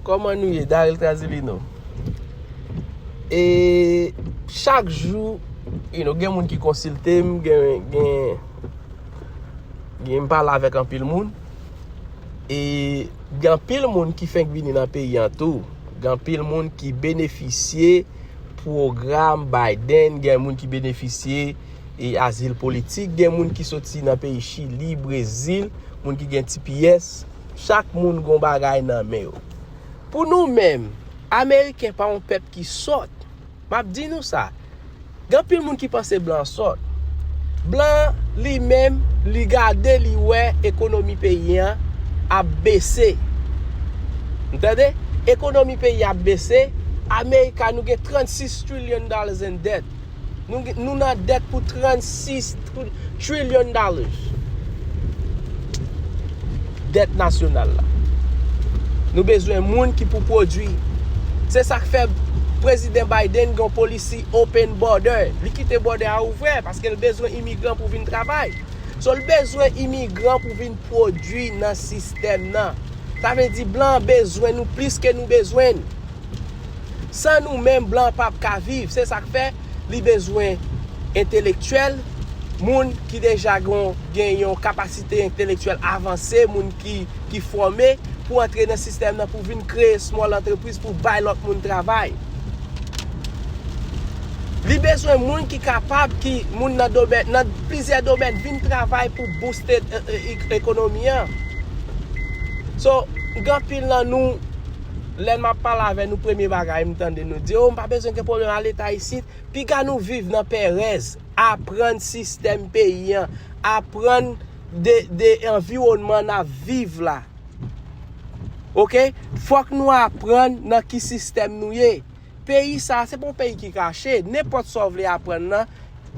Koman nou ye Daryl Trazilino E chak jou You know gen moun ki konsilte m Gen m pale avèk anpil moun E gen anpil moun ki fenk vini nan peyi an tou Gen anpil moun ki benefisye Pwogram Biden Gen moun ki benefisye E azil politik Gen moun ki soti nan peyi chili Brezil Moun ki gen tps Chak moun gon bagay nan men yo. Pou nou menm, Ameriken pa yon pèp ki sòt. M ap di nou sa. Gen anpil moun ki panse blan an sòt. Blan an, li menm, li gade li wè ekonomi peyi an ap bese. N tande? Ekonomi peyi an ap bese. America nou gen 36 trillion dollars in debt. Nou nan dèt pou 36 trillion dollars. Dèt nasyonal la. Nou bezwen moun ki pou pwodwi. Se sak fè President Biden gen yon policy open border. Li kite bòdè a ouvè paske l bezwen imigran pou vin travay. So l bezwen imigran pou vin pwodwi nan sistèm nan. Sa vle di blan an bezwen nou plis ke nou bezwen l. San nou menm blan pap ka viv, se sak fè li bezwen entelektyèl, moun ki deja gen yon kapasite entelektyèl avanse, moun ki fòme pou antre nan sistèm nan pou vin kreye small antrepriz pou bay lòt moun travay. Li bezwen moun ki kapab ki moun nan domèn nan plizyè domèn vin travay pou bouste ekonomi an. So gen anpil nan nou lè map pale avè nou premye bagay m tande nou di oh m pa bezwen gen pwoblèm a leta isit, piga nou viv nan pèrèz, aprann sistèm peyi an, aprann de de anviwònman nap viv la ok fòk nou aprann nan ki sistèm nou ye. Peyi sa a se pa yon peyi ki kache, nenpòt sa w vle aprann nan,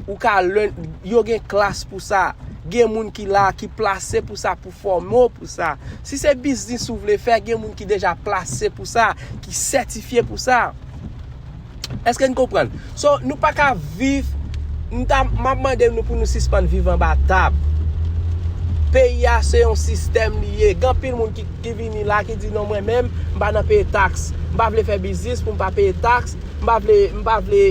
ou ka learn, yo gen klas pou sa, gen moun ki la a ki plase pou sa pou fòme w pou sa. Si se biznis ou vle fè, gen moun ki deja plase pou sa, ki sètifye pou sa. Èske n konprann? So, nou pa ka viv, m ta, m ap mande nou pou nou sispann viv anba tab. Peyi a se yon sistèm li ye, gen anpil moun ki. ki vini la ki di non mwen menm m pa nan peye tax m pa vle fè biznis pou m pa peye tax m pa vle m pa vle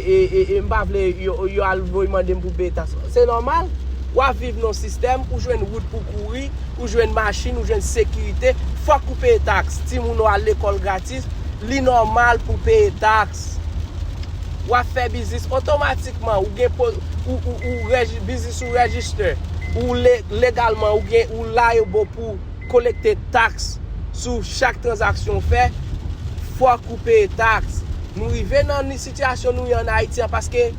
m pa vle yo al voye mande m pou m peye tax se nòmal wap viv nan sistèm ou jwenn wout pou kouri ou jwenn machin ou jwenn sekirite fòk ou peye tax timoun ou al lekòl gratis li nòmal pou peye tax wap fè biznis otomatikman ou gen ou ou biznis ou register ou legalman ou gen ou liable pou Kolekte taks sou chak tranzaksyon w fè, fòk ou peye taks. Nou rive nan ni sitiyasyon nou ye an Ayiti an paske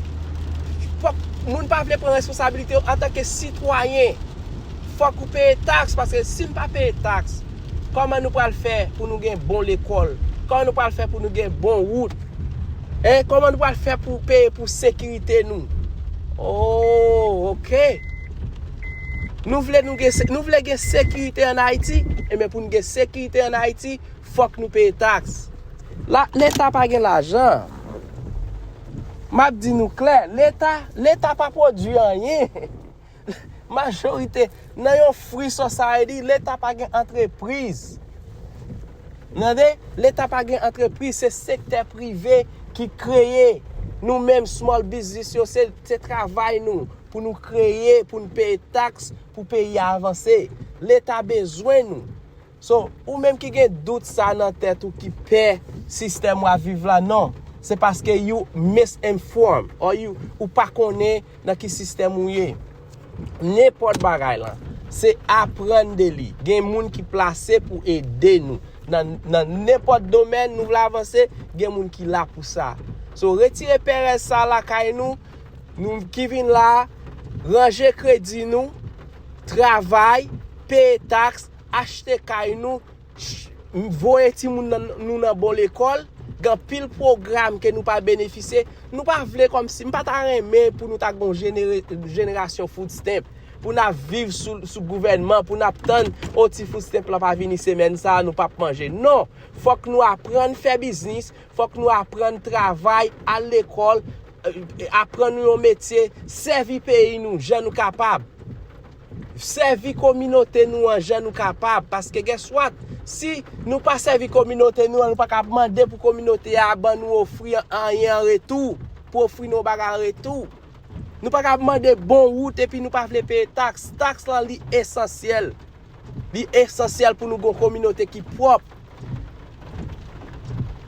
fòk moun pa vle pran responsabilite yo antanke sitwayen. Fòk ou peye taks paske si n pa peye taks, kòman nou pral fè pou nou gen bon lekòl? Kòman nou pral fè pou nou gen bon wout? Hein? Kòman nou pral fè pou peye pou sekirite nou? Oo! Ok! Nou vle nou gen nou vle gen sekirite an Ayiti enben pou nou gen sekirite an Ayiti fòk nou peye taks. La leta pa gen lajan. Map di nou klè, leta leta pa pwodui anyen. Majorite nan yon free society leta pa gen antrepriz. Tande, leta pa gen antrepriz se sektè prive ki kreye nou menm small business yo se se travay nou. Pou nou kreye, pou nou peye taks, pou peyi a avanse. Leta bezwen nou. So, ou menm ki gen dout sa nan tèt ou ki pè sistèm wap viv la non. Se paske you misinform or you ou pa konnen nan ki sistèm ou ye. Nenpòt bagay lan. Se aprann de li. Gen moun ki plase pou ede nou. Nan nan nenpòt domèn nou vle avanse, gen moun ki la pou sa. So, retire perèz sa lakay nou. Nou ki vin la a, ranje kredi nou, travay, peye taks, achte kay nou, voye timoun nou nan bon lekòl, gen anpil pwogram ke nou pa benefisye, nou pa vle kòm si, m pa ta renmen pou nou ta gen yon jenerasyon food stamp, pou n ap viv sou gouvènman, pou n ap tann, o ti food stamp la pa vini semèn sa a, nou pap manje. Non, fòk nou aprann fè biznis, fòk nou aprann travay, al lekòl, aprann nou yon metye, sèvi peyi nou jan nou kapab, sèvi kominote nou an jan nou kapab, paske guess what, si nou pa sèvi kominote nou an, nou pa ka ap mande pou kominote a ban nou ofri anyen an retou, pou ofri nou yon bagay an retou. Nou pa ka ap mande bon wout epi nou pa vle peye taks. Taks lan li esansyèl. Li esansyèl pou nou gon kominote ki pwòp.